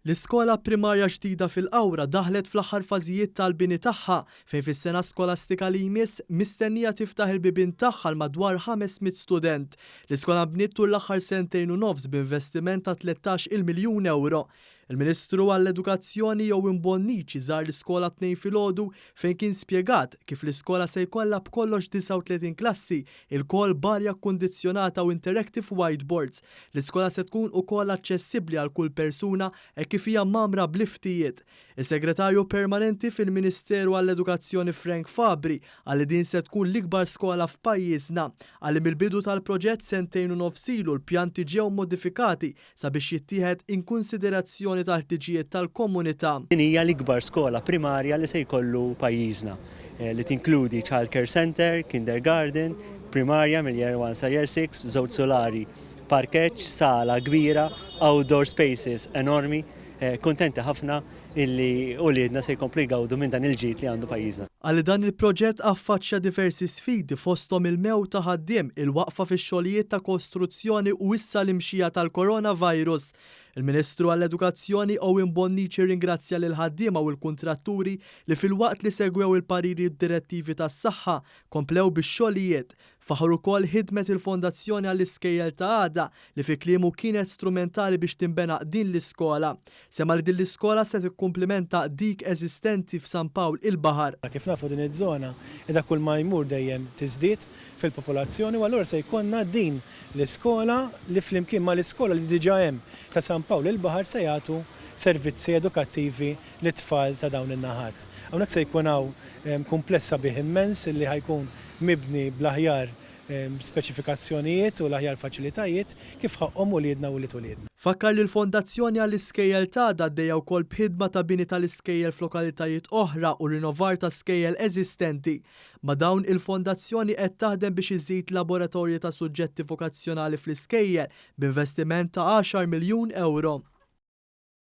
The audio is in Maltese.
L-iskola primarja ġdida fil-Qawra daħlet fl-aħħar fażijiet tal-bini tagħha fejn fis-sena skolastika li jmiss mistennija tiftaħ il-bibien tagħha għal madwar 500 student. L-iskola nbniet tul l-aħħar sentejn u nofs b'investiment ta' tlettax il-miljun ewro. Il-Ministru għall-Edukazzjoni Ewin Bonnici żar l-iskola t-Tnejn filgħodu fejn kien spjegat kif l-iskola se jkollha b'kollox 39 klassi ilkoll b'arja kkundizzjonata u interactive whiteboards. L-iskola se tkun ukoll aċċessibbli għal kull persuna hekk kif hija mgħammra b'liftijiet. Is-Segretarju Permanenti fil-Ministeru għall-Edukazzjoni Frank Fabri qal li din se tkun l-ikbar skola f'pajjiżna. Qal li mill-bidu tal-proġett sentejn u nofs ilu l-pjanti ġew modifikati sabiex jittieħed inkunsiderazzjoni tal-ħtiġijiet tal-komunità. Din hija l-ikbar skola primarja li se jkollu pajjiżna, li tinkludi childcare centre, kindergarten, primarja mill-year one sa year six, żewġ sulari, parkeġġ, sala kbira, outdoor spaces enormi. Kuntenti ħafna illi uliedna se jkomplu jgawdu minn dan il-ġid li għandu pajjiżna. Qal li dan il-proġett affaċċja diversi sfidi fosthom il-mewt ta' ħaddiem, il-waqfa fix-xogħlijiet ta' kostruzzjoni u issa l-imxija tal-Coronavirus. Il-Ministru għall-Edukazzjoni Owen Bonnici rringrazzja lill-ħaddiema u l-kuntratturi li filwaqt li segwew il-pariri u d-direttivi tas-saħħa, komplew bix-xogħlijiet. Faħħar ukoll ħidmet il-Fondazzjoni għall-Iskejjel ta' Għada li fi kliemu kienet strumentali biex tinbena din l-iskola. Semma li din l-iskola se tikkumplimenta dik eżistenti f'San Pawl il-Baħar. Kif nafu din iż-żona qiegħda kull ma jmur dejjem tiżdied fil-popolazzjoni u allura se jkollna din l-iskola li flimkien mal-iskola li diġa' hemm ta' San Pawl il-Baħar se jagħtu servizzi edukattivi lit-tfal ta' dawn in-naħat. Hawnhekk se jkun hawn kumpless sabiħ immens li ħa jkun mibni bl-aħjar speċifikazzjonijiet u l-aħjar faċilitajiet kif ħaqqhom uliedna u ulied uliedna. Fakkar li l-Fondazzjoni għall-Iskejjel t'għada għaddejja wkoll b'ħidma ta' bini tal-iskejjel f'lokalitajiet oħra u rinovar ta' skejjel eżistenti. Ma' dawn, il-Fondazzjoni qed taħdem biex iżżid laboratorji ta' suġġetti vokazzjonali fl-iskejjel b'investiment ta' għaxar miljun ewro.